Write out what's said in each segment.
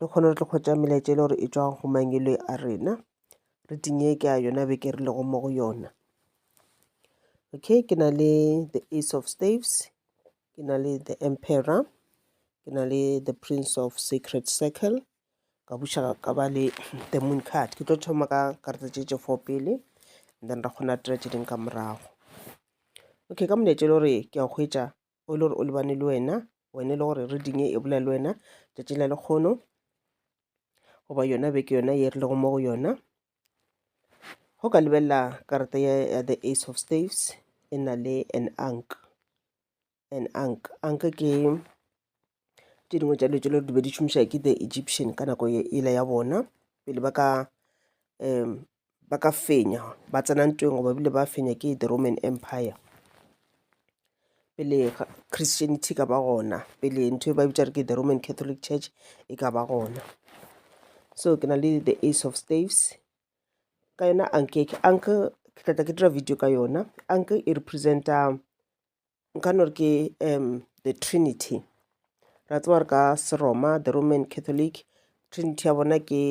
le kgone re tlo kgwetša melaetša e le gore e tšwa go mangwele a rena re tinyeke a yona beke re lego mo go yona okay ke na le the ace of staves ke na le the emperor ke na le the prince of sacred circle ka buša ka ba le the moon card ke tlo thoma ka karata tše tše four pele then ra kgona tira tše ding ka morago okay ka molaetša le gore ke a hwetša o e le gore o lebane le wena wena e le gore reading e bolela le wena tšatši la lekgono goba yona beke yona ye re lego mo go yona go ka lebelela karata ya ya the ace of staves e na le an ank an ank ank ke tše dingwe tša dilo tše le di be di šomiša ke the egyptian ka nako yela ya bona pele ba ka um ba ka fenya ba tsena ntweng goba bile ba fenya ke the roman empire pele christianity ka ba gona pele ntho e ba bitša re ke the roman catholic church e ka ba gona so ke na le the ace of staves ka yona anke anke ke tlatla ke dira video ka yona anke e representa nka no re ke um the trinity ra tseba gore ka seroma the roman catholic trinity ya bona ke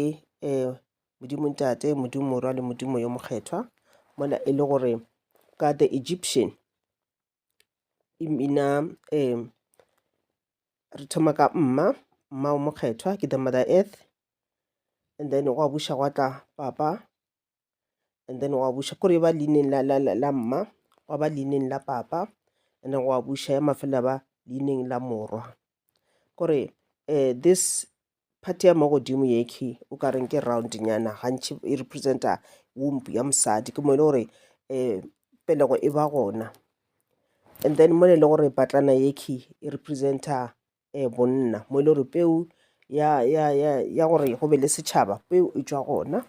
um modimo ntate modimo morwa le modimo yo mokgethwa mola e le gore ka the egyptian e mina um re thoma ka mma mma o mokgethwa ke the mother earth and then gwa buša gwa tla papa and then wa buša kore ba leineng la, la, la, la mma wa ba leineng la papa and then wa buša ya mafela ba leineng la morwa kore um this party ya mo godimo yekhi o ka reng ke round nyana gantši e representa womp ya mosadi ke mo e le gore um pelego e ba gona and then mo e le gore patlana yekhi e representa um bonna mo e le gore peu ya gore go be le setšhaba peu e tšwa gona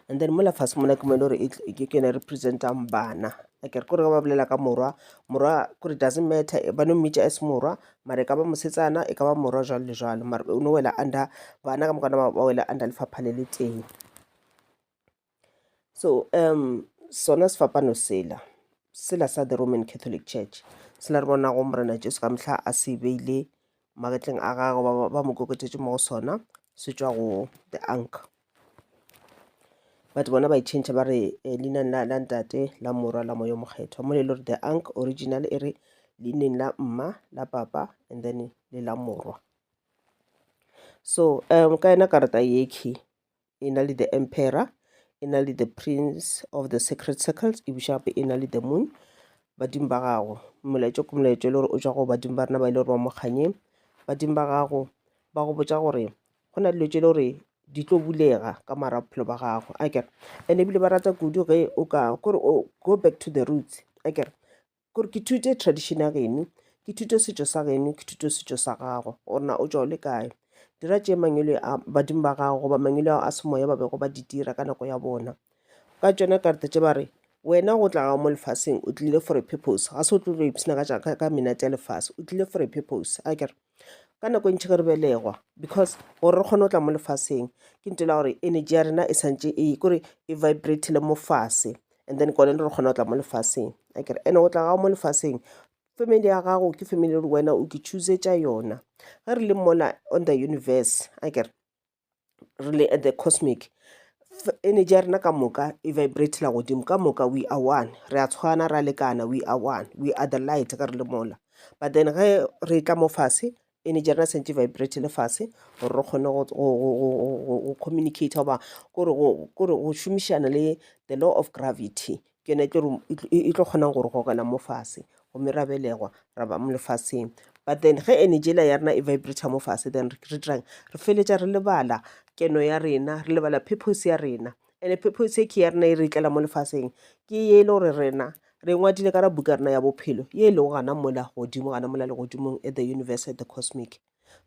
and then mola fase mona ke mo e le gore ke yone e represent-ang bana akere kore ge ba bolela ka morwa morwa kore doesn't matter ba no mmitša as morwa mara e ka ba mosetsana e ka ba morwa jwalo le jwalo mara o no wela under bana ka moka ba wela under lefapha le le tee. so um sona sefapano sela sela sa the roman catholic church sela re bonago morena jesu ka mehla a se beile magetleng a gagwe ba- ba- ba mo koketšetše mo go sona se tšwa go the ank but bona ba itšhentšha ba re eh, leineng la la ntate la morwa la moyo mokgethwa mo le le gore the ank original e re leineng la mma la papa and then le la morwa so um ka yena karata yekhi e na le the emperor e na le the prince of the sacred circles e buša gape e na le the moon badimo ba gago molaetša ke molaetša e le gore o tšwa go badimo ba rena ba e le gore ba mo kganyeng badimo ba gago ba go botša gore go na dilo tše e le gore di tlo bulega ka mara bophelo ba gago a kere and ebile ba rata kudu ge o ka kore o go back to the roots a kere gore ke thute tradition ya geno ke thute setšo sa geno ke thute setšo sa gago gore na o tšwa o le kae dira tše mangwele a badimo ba gago goba mangwele ao a semoya ba bego ba di dira ka nako ya bona ka tšona karata tše ba re wena go tla gago mo lefaseng o tlile for a purpose ga se o tlo go ipshina ka menate ya lefase o tlile for a purpose a kere ka nako e ntši ge re belegwa because gore re kgone go tla mo lefaseng ke nto la gore energy ya rena e santše e kore e vibratile mo fase and then kone re kgona go tla mo lefaseng a kere ene go tla gago mo lefaseng family ya gago ke family le wena o ke choosetša yona ge re le mona on the universe a kere re le at the cosmic energy ya rena ka moka e vibratela godimo ka moka we are one re a tshwana ra lekana we are one we are the light ka re le mola but then ge re tla mo fase energy ya rena sentse vibrate le fase gore re kgone go communicate goba kore go šomišana le the law of gravity Ke yona e tlo e tlo kgonang go re gogela mo fase gomme ra belegwa ra ba mo lefaseng but then ge energy ela ya rena e vibrata mo fase then re dirang re feletša re lebala keno ya rena re lebala purpose ya rena and purpose e ke ya rena e re tlela mo lefaseng ke ye e le gore rena re ngwadile ka ra buka rena ya bophelo ye e lego gana mola godimo gana mola legodimong at the universe at the cosmic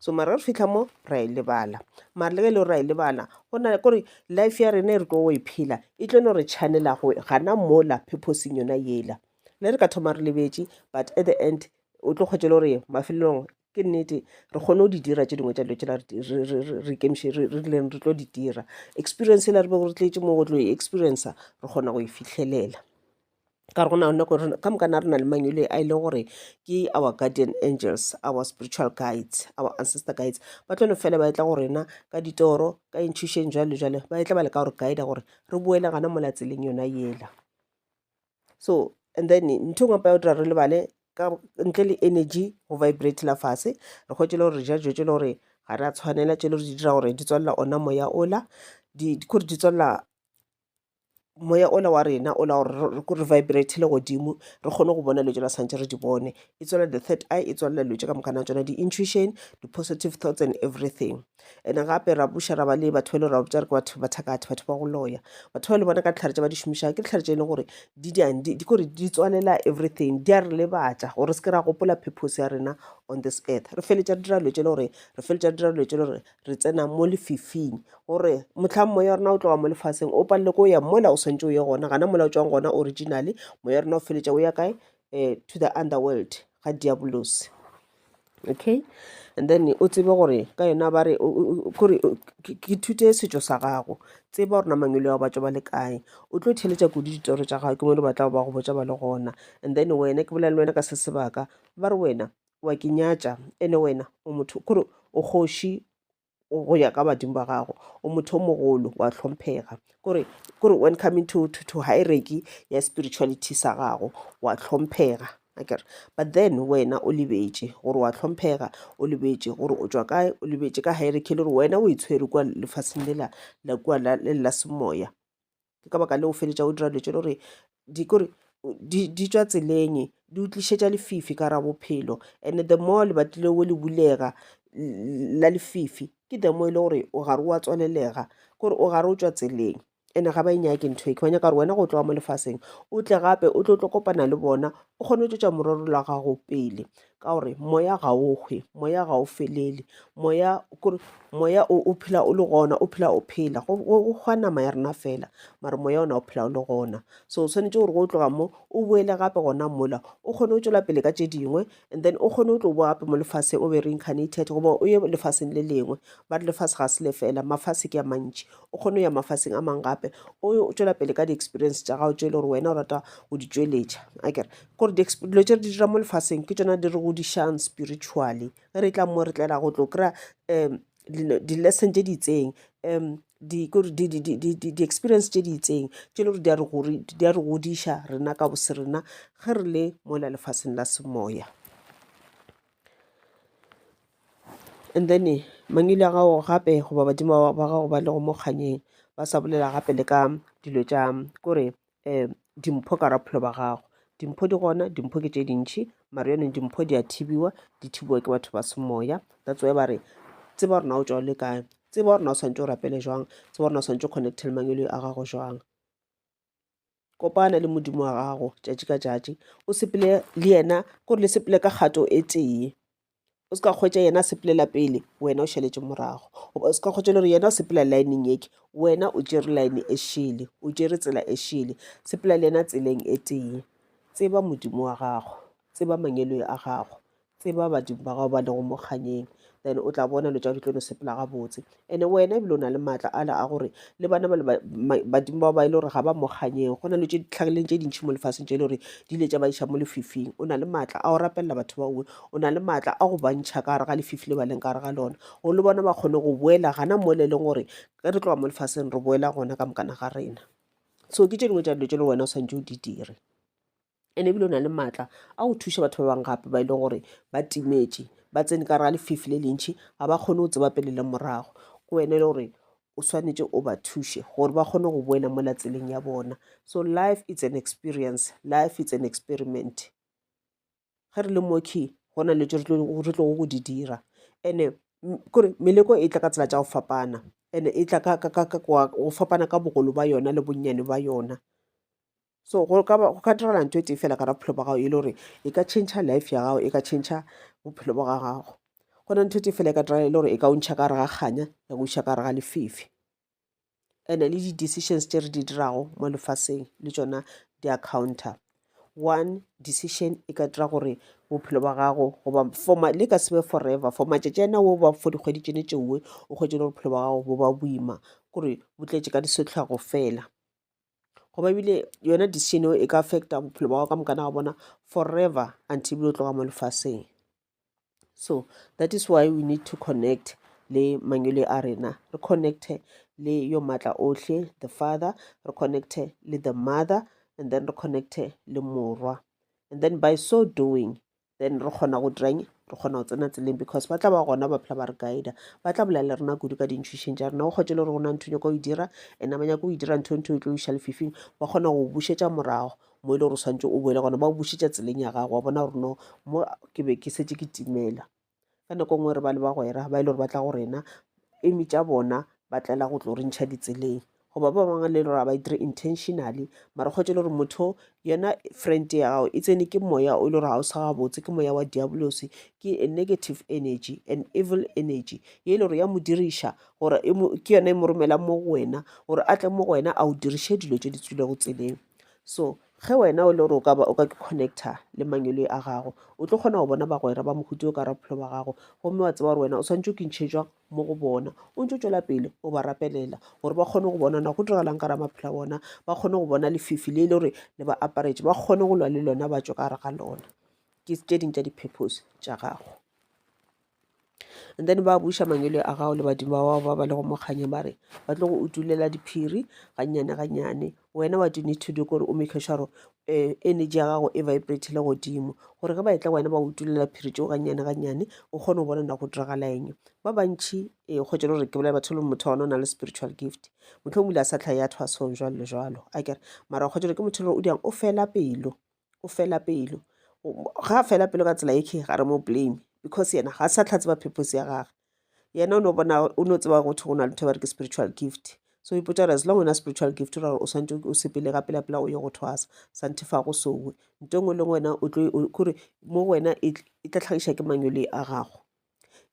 so mara re fitlha mo ra e lebala mara le ge e le gore ra e lebala go na kore life ya rena e re tlo go e phela e tlo no re channela go gana mola purposeng yona yela ne re ka thoma re lebetše but at the end o tlo kgwetse le gore mafelelong ke nnete re kgone go di dira tse dingwe tsa dilo tsela re ikemiše re rileng re tlo di dira experience e la re be gore tletše mo go tlo e experiencer re kgona go e fitlhelela ka re go na nako re- ka moka na re na le mangwele a e leng gore ke our guardian angels our spiritual guides our ancestor guides ba tlo no fela ba etla go rena ka ditoro ka intšhušeng jwalo le jwalo ba etla ba leka gore guide gore re boele gana mola tseleng yona yela so and then ntho engwe pa ya go dira re lebale ka ntle le energy go vibrate la fase re kgwetse le gore re ja dijo tse le gore ga re a tshwanela tse le gore di dira gore di tswalela ona moya ola di di- kore di tswalela moya ola wa rena ola gore ko re vibrate le godimo re kgone go bona dilo tse re santse re di bone e tswela the third eye e tswela dilo tse ka mokana tsona di-intuition di-positive thoughts and everything and gape ra buša ra ba le batho ba le ra botsa re ke batho ba thakathe batho ba go loya batho ba le bona ka ditlhare tse ba di šomišago ke ditlhare tse e leng gore di diang di di- kore di tswalela everything di a re lebatša gore re se ke ra gopola purpose ya rena on this earth re feletša re dira dilo tse e le gore re feletša re dira dilo tse e le gore re tsena mo lefifing gore motlhang moya wa rona o tloga mo lefaseng o palele ko o ya mola o swantse o ye gona gana mola o tswang gona originally moya wa rona o feletša o ya kae um to the underworld ga diabolosi okay and then o tsebe gore ka yona ba re kore ke thute setšo sa gago tseba gore namang le wa batso ba le kae o tlo theletša kudu ditoro tša gago ke mo di batlago ba go botsa ba le gona and then wena ke bolela le wena ka se sebaka ba re wena O a ke nyatša, ene wena o motho, kore o kgoši go ya ka badimo ba gago, o motho o mogolo, wa hlomphega. Kore, kore when coming to, to, to hierarchy ya spirituality sa gago, wa hlomphega. Akere, but then wena o lebetše gore wa hlomphega, o lebetše gore o tšwa kae, o lebetše ka hierarchy le gore wena o itshwere kua lefaseng lela la kua la, le la semoya. ke ka baka leo o feletša o dira dilo tše le gore di kore di, di tšwa tseleng di o tlišetša lefifi ka ra bophelo and the more lebati le o le bulega la lefifi ke the more e le gore o gare wa tswalelega kore o gare o tšwa tseleng ene ga ba e nyake ntho e ke ba nyaka gore wena go tloga mo lefaseng o tle gape o tlo tlo kopana le bona o kgone go tšwetša morero la gago pele ka gore moya ga o hwe moya ga o felele moya kore moya o o phela o le gona o phela o phela go go- go hwa nama ya rena fela mare moya ona o phela o le gona so o tshwanetse gore go tloga mo o boele gape gona mola o kgone go tswela pele ka tše dingwe and then o kgone go tlo boa gape mo lefase o be reincarnated goba o ye lefaseng le lengwe ba re lefase ga se le fela mafase ke a mantši o kgone go ya mafaseng a mangwe gape o yo- o tswela pele ka di-experience tša gago tše e le gore wena o rata go di tšweletša a kere Gore di dilo tše re di dira mo lefaseng ke tšona di re godišang spiritually ge re tla mo re tlela go tlo kry-a um di-lesson tše di itseng um di-experience tše di itseng tše e le gore di a re godiša rena ka bose rena ge re le mola lefaseng la semoya and then mangwele a gago gape goba badimo ba gago ba le go mo kganyeng ba sa bolela gape le ka dilo tša kore um dimpho ka raphelo ba gago dimpho di gona dimpho ke tše dintšhi mare yone dimpho di a thibiwa di thibiwa ke batho ba semoya that's why ba re tseba gore na o tšwa le kae tseba gore na o swantse o rapele jwang tseba gore na o swantse o connecte le mangelo a gago jwang kopana le modimo wa gago tšatši ka tšatši o sepele le yena kore le sepele ka kgato e tee o se ka kgwetša yena a sepelela pele wena o šaletše morago goba o se ka kgwetša le gore yena o sepela lineng yeke wena o tšere line e šele o tšere tsela e šele sepela le yena tseleng e tee tseba modimo wa gago tseba mangeloi a gago tseba badimo ba gago ba lego mokganyeng then o tla bona lo tša di tlo no sepela gabotse Ene wena ebile o na le maatla ala a gore le bana bale badimo bao ba e le gore ga ba mo kganyeng go na le tše ditlhagileng tše dintšhi mo lefaseng tše e le gore di ile tša ba iša mo lefifing o na le maatla a go rapelela batho ba uwe o na le maatla a go bantšha ka gare ga lefifi le ba leng ka gare ga lona gore le bona ba kgone go boela gana mo le leng gore ge re tloga mo lefaseng re boela gona ka mokana ga rena so ke tše dingwe tša dilo tše le wena o swantse o di dire ene ebile o na le maatla a go thuša batho ba bangwe gape ba e leng gore ba timetše ba tsene ka ra lefifi le lentšhi ga ba kgone go tseba pele le morago ke wene e le gore o swanetše o ba thuše gore ba kgone go boela mo latseleng ya bona so life it's an experience life it's an experiment ge re le moki go na le tso re tlogo go di dira ande kore meleko e tla ka tsela tša go fapana ande e tla go fapana ka bogolo ba yona le bonnyane ba yona so go ka go ka direla ntho e tee fela ka ra bophelo ba gago e le gore e ka change life ya gago e ka change bophelo ba ga gago go na ntho e tee fela e ka direla e le gore e ka o ntšha ka gare ga kganya ya go iša ka gare ga lefefe and-e le di-decisions tse re di dirago mo lefaseng le tsona di accounta one decision e ka dira gore bophelo ba gago goba foma le ka sebe forever for matšatši ana wo ba for dikgwedi tšene tšeoe o kgwetse le bophelo ba gago bo ba boima kore bo tletše ka disetlhwago fela goba ebile yona decision eo e ka affecta bophelo ba ka mokana wa bona forever until bjo tloga mo lefaseng so that is why we need to connect le mangwele a rena re connecte le yo maatla ohle the father re connecte le the mother and then re connecte le morwa and then by so doing then re kgona go dirang re kgona go tsena tseleng because ba tla ba gona ba phela ba re guida ba tla bolela le rena kudu ka dintšhwišeng tša rena o kgotse le gore go na ntho nyako o e dira and ba nyako o e dira ntho ntho o tlo iša lefifing ba kgona go bušetša morago mo e le gore o swantse o boele gona ba o bušetša tseleng ya gago wa bona gore no mo ke be ke setse ke timela ka nako nngwe re ba le bagwera ba e le gore ba tla go rena eme tša bona ba tlela go tlo re ntšha ditseleng goba ba bangwe le gore ba e dire intentionally mara kgwetse le gore motho yona friend ya gago e tsene ke moya o e le gore ga o sa gabotse ke moya wa diabolosi ke a negative energy an evil energy ye e le gore ya mo diriša gore e ke yona e mo romelang mo go wena gore a tle mo go wena a o diriše dilo tse di tswilego tseleng so Ge wena o le gore o ka ba o ka connecta le mangweloi a gago, o tlo kgona go bona bagwera ba mohuta o ka ra bophelo ba gago, gomme wa tseba gore wena o swanetše o kintšhetšwa mo go bona, o ntse o tšwela pele o ba rapelela gore ba kgone go bona na go diragalang ka ra maphelo a bona, ba kgone go bona lefifi le e le gore le ba aparetše, ba kgone go lwa le lona ba tšwe ka gare ga lona. Ke tše ding tša di-purpose tša gago. And then ba buša mangwele a gago le badimo ba bao ba ba lego mo kganyeng ba re ba tlo go utulela diphiri gannyane gannyane wena what you need to do kore o make sure gore um energy ya gago e vibrate le godimo gore ge ba etla wena ba utulela phiri tšeo gannyane gannyane o kgone go bona na go diragala eng ba bantšhi e kgotse le gore ke bolela batho le motho wa ona o na le spiritual gift motlho o bile a sa tlhae ya thwasong jwalo le jwalo a kere mara kgotse gore ke motho le gore o dirang o fela pelo o fela pelo ga a fela pelo ka tsela e ga re mo blame because yena ga sa tlha tseba purpose ya gagwe yena o no bona o no tseba gotho go na le ba re ke spiritual gift so ipotsa gore as long wena spiritual gift ra gore o swantse o sepele ga pela pela o ye go thwasa santhe fa go sowe nto e nngwe le wena o tlo kore mo wena e tla tlhagiša ke manyole a gago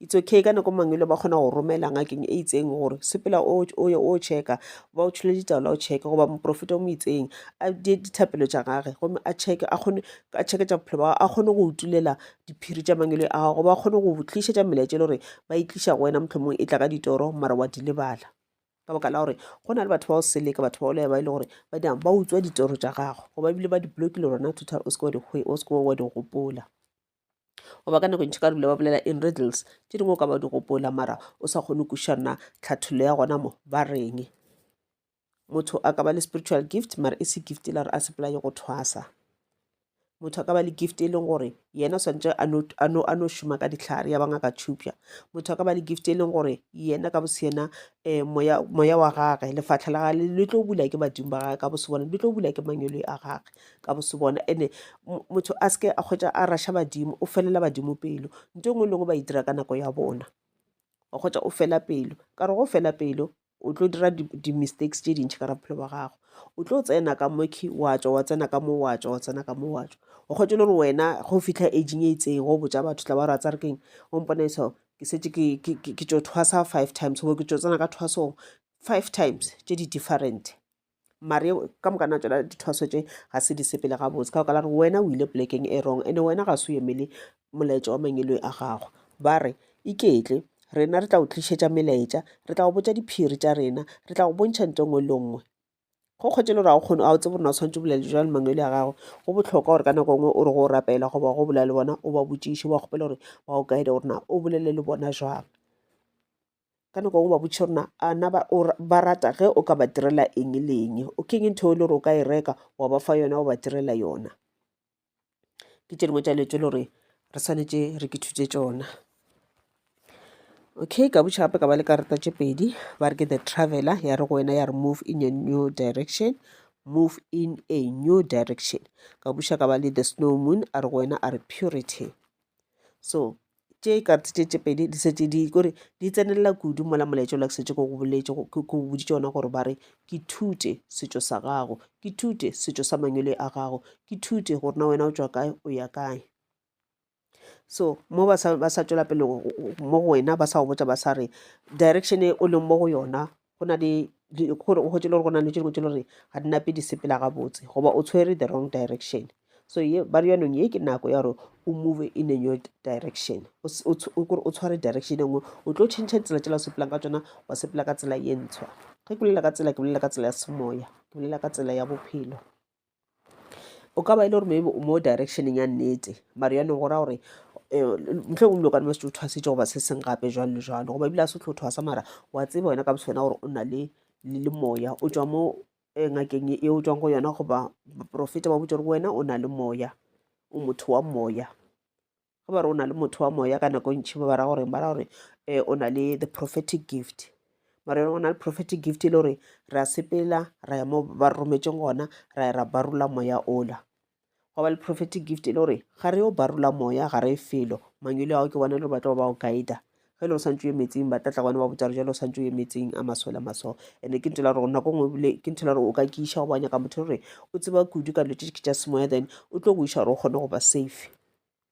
It's okay ka nako mang ba kgona go romela ngakeng e itseng gore sepela o ye o checka ba o tšhole ditaola o checke goba moprofeta o mo itseng a die dithapelo tša gage gomme a checke a kgone a checke tša bophelo ba a kgone go utulela diphiri tša mangwele a gago ba kgone go tlišetša melaetša e le gore ba e tliša go wena mohlomong e tla ka ditoro mara wa di lebala ka baka la gore go na le batho ba o seleka batho ba olea ba e le gore ba dang ba utswa ditoro tša gago goba ebile ba di blokile rona thutha o seke wa di gopola goba ka nako e ntši ka dula ba bolela in riddles tše dingwe o ka ba di gopola mara o sa kgone kuša nna tlhathollo ya gona mo ba reng motho a ka ba le spiritual gift mara e se gift e la re a sepolaye go thwasa motho a ka ba le gift e leng gore yena o swantse a no šoma ka ditlhare ya bangaka tšhupša motho a ka ba le gift e leng gore yena ka boseyena um eh, moya wa gage lefatlha la gage le tlo bula ke badimo ba gage ka bosebone le tlo bula ke mangwele a gage ka bose bona ene motho a seke a kgwetsa a rasha badimo o felela badimo pelo nto engwe lengwe ba e dira ka nako ya bona wa kgwetsa o fela pelo ka re go fela pelo o tlo dira di-mistakes tse dintšhi ka ra bophelo ba gago o tlo tsena ka moki wa tswa wa tsena ka mo wa tswa wa tsena ka mo wa tswa o kgwetse le gore wena go fitlha aging e itseng go botsa batho tla ba ratsa re keng o mpona eso ke setse ke tso thwasa five times go ke tso tsena ka thwasong five times tse di different mare ka moka na tsona dithwaso tše ga se di sepele gabotse ka okala gore wena o ile polekeng e wrong ande wena ga se o emele molaetša wa mangeloi a gago ba re iketle rena re tla o tlišetša melaetša re tla go botša diphiri tša rena re tla go bontšha nto nngwe le nngwe go kgwetše le gore ga o kgone ga o tsebe rena o tshwanetse bolele jwa le mangwele ya gago go botlhokwa gore ka nako nngwe o re go o rapela goba go bolela le bona o ba botšiše ba kgopela gore ba o kaede gorena o bolele le bona jwang ka nako ngwe ba botšhe rona a na ba rata ge o ka ba direla eng le eng o keng ntho e le gore o ka e reka wa ba fa yona wa ba direla yona ke tše dingwe tša dilo tse le gore re swanetše re ke thutse tsona okay ka botšha gape ka ba le karata tše pedi ba re ke the traveler ya re go wena ya re move in a new direction move in a new direction ka buša ka ba le the snow moon a re go wena a re purity so tše e ka re tše tše pedi di setse di kore di tsenelela kudu mola molaetša ola ke setse ko go boletse ke boditše ona gore ba re ke thute setšo sa gago ke thute setšo sa mangwele a gago ke thute gore na wena o tswa kae o ya kae so mo ba sa tswela pele mo go wena ba sa go botsa ba sa re direction e o leng mo go yona go na le gore o hwetse le gore go na le tse dingwe tse le gore ga di nape di sepela gabotse goba o tshwere the wrong direction so ye ba re yanong ye ke nako ya gore o move in a new direction kore o tshware direction e nngwe o tlo change tsela tsela o sepelang ka tsona wa sepela ka tsela ye ntshwa ge ke bolela ka tsela ke bolela ka tsela ya semoya ke bolela ka tsela ya bophelo o ka ba e le gore maybe o mo directioneng ya nnete mare yone go ra gore eh, ntle o mlo ka nna se o thwasitse goba se seng gape jwalo le jwalo goba ebile a se tlho thwasa mara wa tseba wena ka boswena gore o na le le le moya o tswa mo eh, ngakeng e o tswang go yona goba baporofeta ba botse gore wena o na le moya o motho wa moya ge ba re o na le motho wa moya ka nako ntšhi ba bara gore ba ra gore um o na le the prophetic gift mara yone go na le prophetic gift e le gore re a sepela ra ya mo ba re rometseng gona ra ya ra barula moya ola go ba le prophetic gift e le gore ga re yo barula moya ga re felo mangwele ao ke bona e le gore ba tlo ba o guida ge e le o santse o emetseng ba tlatla gone ba botsa re jalo o santse o emetseng a masole a maso and-e ke ntho la gore nako ngwe ebile ke ntho la gore o ka kiša go ba nyaka motho gore o tseba kudu ka dilo tse ke tša semoya then o tlo go iša gore o kgone go ba safe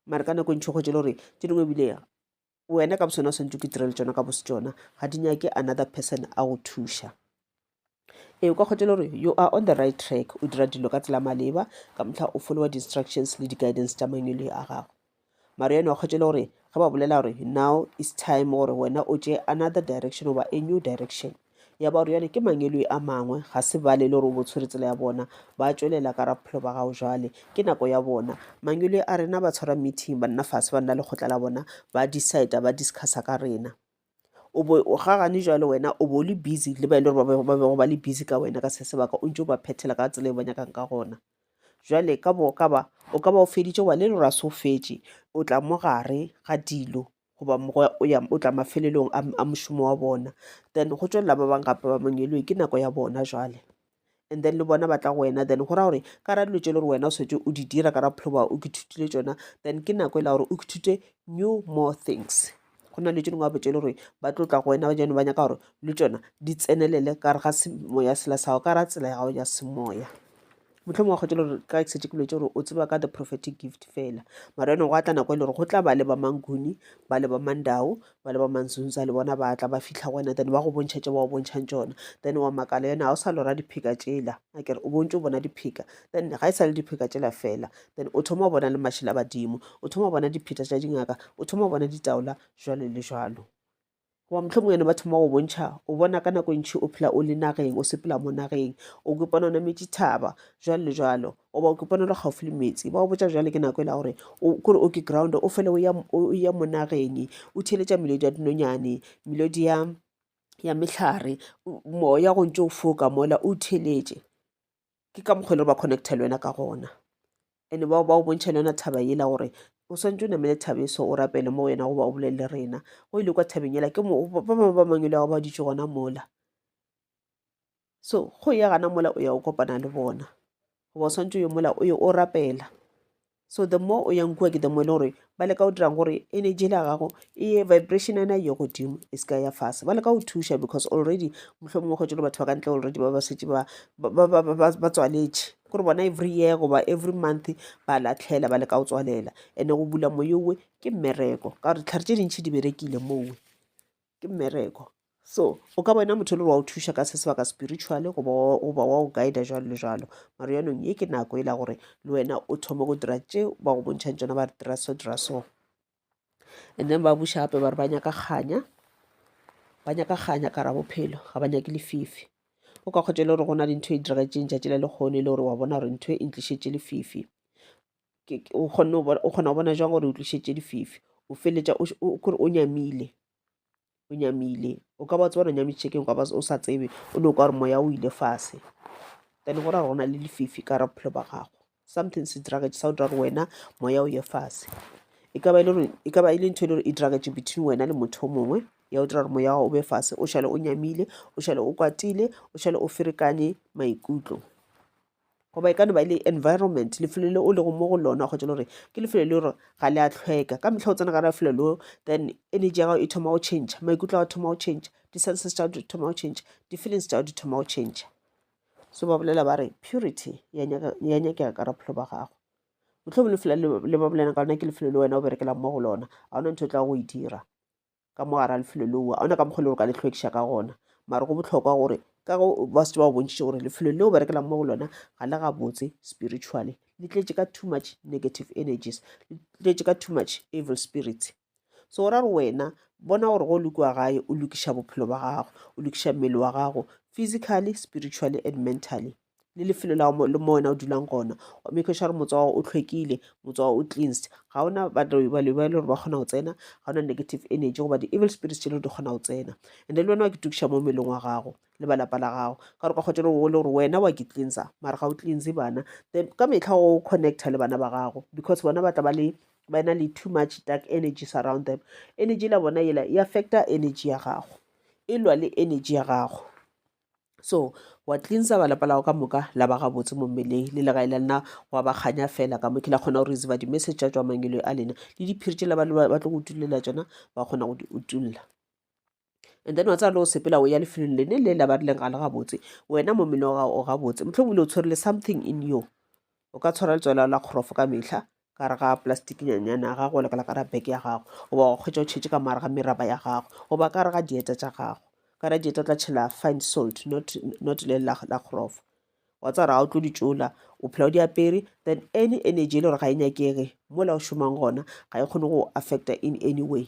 mare ka nako e ntšhi kgwetšele gore tše dingwe ebile wena ka bosone o swantse o ke direle tsona ka bose tsona ga di nyake another person a go thuša ee o ka kgwetšele gore you are on the right track o dira dilo ka tsela maleba ka motlha o followa di-instructions le di-guidance tša mangwele a gago mare yone wa kgwetšele gore ge ba bolela gore now is time gore wena o tše another direction goba a new direction ya ba gore jale ke mangeloi a mangwe ga se bale e le gore o bo tshwere tsela ya bona ba tswelela ka raphelo ba gago jale ke nako ya bona mangeloi a rena ba tshwara meeting banna fase ba nna lekgotla la bona ba decide ba discussa ka rena o bo o gagane jwale wena o bo le busy le ba e le gore ba bego ba le busy ka wena ka se sebaka o ntse o ba phethela ka tsela e ba nyakang ka gona jwale ka bo ka ba o ka ba o feditše wa le le gore a se o fetše o tla mo gare ga dilo goba mogoya o ya o tla mafelelong a, a mošomo wa bona then go tšwelela ba bang gape ba mangelwe ke nako ya bona jwale and then le bona ba tla go wena then go ra gore ka ra dilo tše le gore wena o swetse o di dira ka ra bophelo ba o kithutile tsona then ke nako e la gore o kithute new more things go na le tše dingwe gape tše le gore ba tlo tla go wena jane ba nyaka gore le tsona di tsenelele ka re ga semoya sela sa gago ka ra tsela ya gago ya semoya mohlomongwe wa kgotšela gore ka setse ke lwetse gore o tseba ka the prophetic gift fela mara ene go atla nako e le gore go tla ba le ba manguni ba le ba mandao ba le ba manzunza le bona ba tla ba fitlha go wena then ba go bontšha tše ba go bontšhang tsona then wa makala yone ga o sa lora diphika tsela a kere o bontse o bona diphika then ga e sa le diphika tsela fela then o thoma o bona le mašela badimo o thoma o bona dipheta tša dingaka o thoma o bona ditaola jalo le jalo goba mohlomong ene ba thoma go bontšha o bona ka nako e ntšhi o phela o le nageng o sepela mo nageng o kopana o nametše thaba jalo le jalo goba o kopana le gaufi le metsi ba o botsa jale ke nako e la gore kore o ke ground o fele o ya mo nageng o theletša melodi ya dinonyane melodi ya ya mehlare moya go ntse o foka mola o theletše ke ka mokgwa e le gore ba connecta le wena ka gona ande ba o bontšha le yona thaba ela gore o swantse o namele thabeso o rapele mo wena goba o bolelele rena go ile kwa thabeng ela ke ba bangwe ba mangwe le gago ba ditse gona mola so go ya gana mola o ya o kopana le bona goba o swantse o ye mola o ye o rapela So the more o yang kua ke the more e le gore ba leka go dirang gore energy la gago e ye vibration ena ye godimo e seka ya fase ba leka go thuša because already mohlho mongwe kgwetšo le batho ba ka ntle already ba ba setse ba tswaletše gore bona every year goba every month ba latlhela ba leka go tswalela and-e go bula moyowe ke mmereko ka gore ditlhare tše dintšhi di berekile mowe ke mmereko so o ka bona motho e le gore wa o thuša ka se sebaka spiritually goba wa o guida jalo le jalo maro yanong ye ke nako e la gore le wena o thome go dira tše ba go bontšhang tsona ba re dira so dira so and then ba buša gape ba re ba nyaka kganya ba nyaka kganya ka ra bophelo ga ba nyake lefifi o ka kgotsa e le gore go na le ntho e diragetseng tšatši la lekgono e le gore wa bona gore ntho e ntlišetše lefifi o kgona go bona jang gore o tlišetše dififi o feletša kore o nyamile o nyamile o ka ba tsebana nyamiše keng kaba o sa tsebe o ne o ka gore moya o ile fase then go ra gore go na le lefifi ka ra bophelo ba gago something se diragetše sa o dira gore wena moya o ye fase e ka ba e le ntho e le gore e diragetše between wena le motho o mongwe ya o dira gore moya o be fase o šale o nyamile o šale o kwatile o šale o ferekanye maikutlo goba e ka no ba e le environment lefelo le o lego mo go lona kgotsa le gore ke lefelo le gore ga le a tlhweka ka metlha o tsena ka ra lefelo leo then energy ya gago e thoma go change maikutlo a go thoma go change di-senses tša di thoma go change di-feelings tša di thoma go change so ba bolela ba re purity ya nyakega ka raphelo ba gago motlho bo lefela le ba bolela ka lona ke lefelo le wena o berekelang mo go lona ga ona ntho e tla go e dira ka mo gara lefelo leo a ona ka mokgwa le gore ka le hlwekiša ka gona mare go bohlokwa gore ka go ba setse ba bontšhitše gore lefelo leo berekelang mo go lona ga le gabotse spiritually le tletše ka too much negative energies le tletše ka too much evil spirits so o ra re wena bona gore go lokiwa gae o lokiša bophelo ba gago o lokiša mmele wa gago physically spiritually and mentally le lefelo la le mo wena o dulang gona wa make sure motse wa o tlhwekile motse wa o cleansed ga ona baloi ba e le gore ba kgona go tsena ga ona negative energy goba di-evil spirits tše le di kgona go tsena and le wena wa ke tukiša mo melong wa gago le ba lapa la gago ka gore ka kgotsa le o le gore wena wa ke cleansa mara ga o cleanse bana then ka metlha o connecta le bana ba gago because bona ba tla ba le ba na le too much dark energy surround them energy la bona ela e affecta energy ya gago e lwa le energy ya gago so wa cleansa ba lapa lago ka moka la ba gabotse mo mmeleng le legae la lena wa ba kganya fela ka moke la kgona go receiva di-message tša tswa mangelo a lena le diphiri tšela ba tlo go tulela tsona ba kgona go di utulla and then wa tsaya le o sepela o ya lefelong lene le la ba rileng ga le gabotse wena mo mmele wa gago o gabotse motlho bile o tshwerele something in yo o ka tshwara letswela la kgorofo ka metlha ka re ga plastic nyanyana ya gago le ka la ka ra beke ya gago goba wa kgwetsa o tšhetše ka mare ga meraba ya gago goba ka re ga dieta tša gago ka ra dieta o tla tšhela fine salt not, not le la, la kgorofo wa tsa gore ga o tlo di tšola o phela o di apere then any energy e le gore ga e nyakege mola o šomang gona ga e kgone go affecta in any way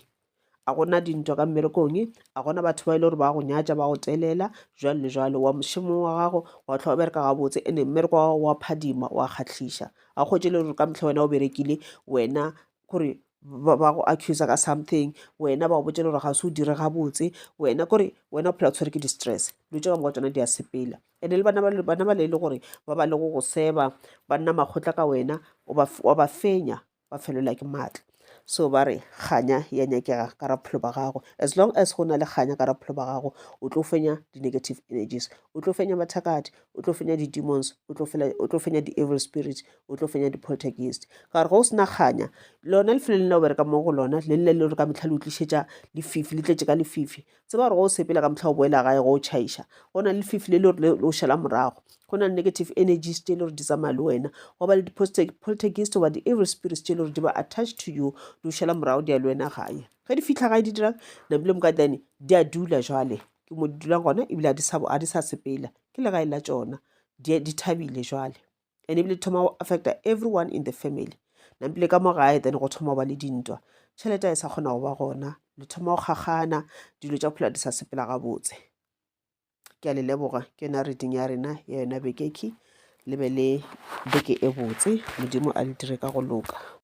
A go na dintwa ka mmerekong? A go na batho ba e le gore ba go nyatša, ba go telela, jwalo le jwalo? Wa mošemong wa gago wa tlhwa o bereka gabotse, ene mmereko wa gago wa phadima, wa kgahliša. A go hwetše e le gore ka mehla wena o berekile, wena kore ba go accusa ka something, wena ba go botša le gore ga se o dire gabotse, wena kore wena o phela o tshwere ke di-stress. Dilo tše ka moka tsona di a sepela. Ene le bana bana bale e le gore ba ba le go go seba, ba nna makgotla ka wena, wa ba fenya, ba felelwa ke maatla so ba re kganya ya nyakega ka ra bophelo ba gago as long as go na le kganya ka ra bophelo ba gago o tlo fenya di-negative energies o tlo fenya mathakati o tlo fenya di-demons o tlo fenya di-evil spirit o tlo fenya di-poltergeist ka gore go o sena kganya lona lefelo le le o bereka mo go lona le le le gore ka metlha le utlišetša lefifi le tletše ka lefifi Tseba gore ge o sepela ka mohla o boela gae go o tšhaiša, go na le lefifi le le gore le o šela morago. Go na le negative energies tše le gore di tsamaya le wena. Go ba le di-poltergeist goba di-evil spirits tše le gore di ba attached to you, di o šela morago di ya le wena gae. Ge di fihla gae di dirang? Napile Mokadiane di a dula jwale. Ke mo di dulang gona ebile ga di sa sepela. Ke legae la tšona. Di thabile jwale. and ebile thoma go affecta everyone in the family nampile ka mo gae then go thoma go ba le dintwa tšhelete a e sa kgona go ba gona le thoma go kgakgana dilo tša phela di sa sepela gabotse ke a le leboga ke yona reading ya rena ya yona bekeki le be le beke e botse modimo a le dire ka go loka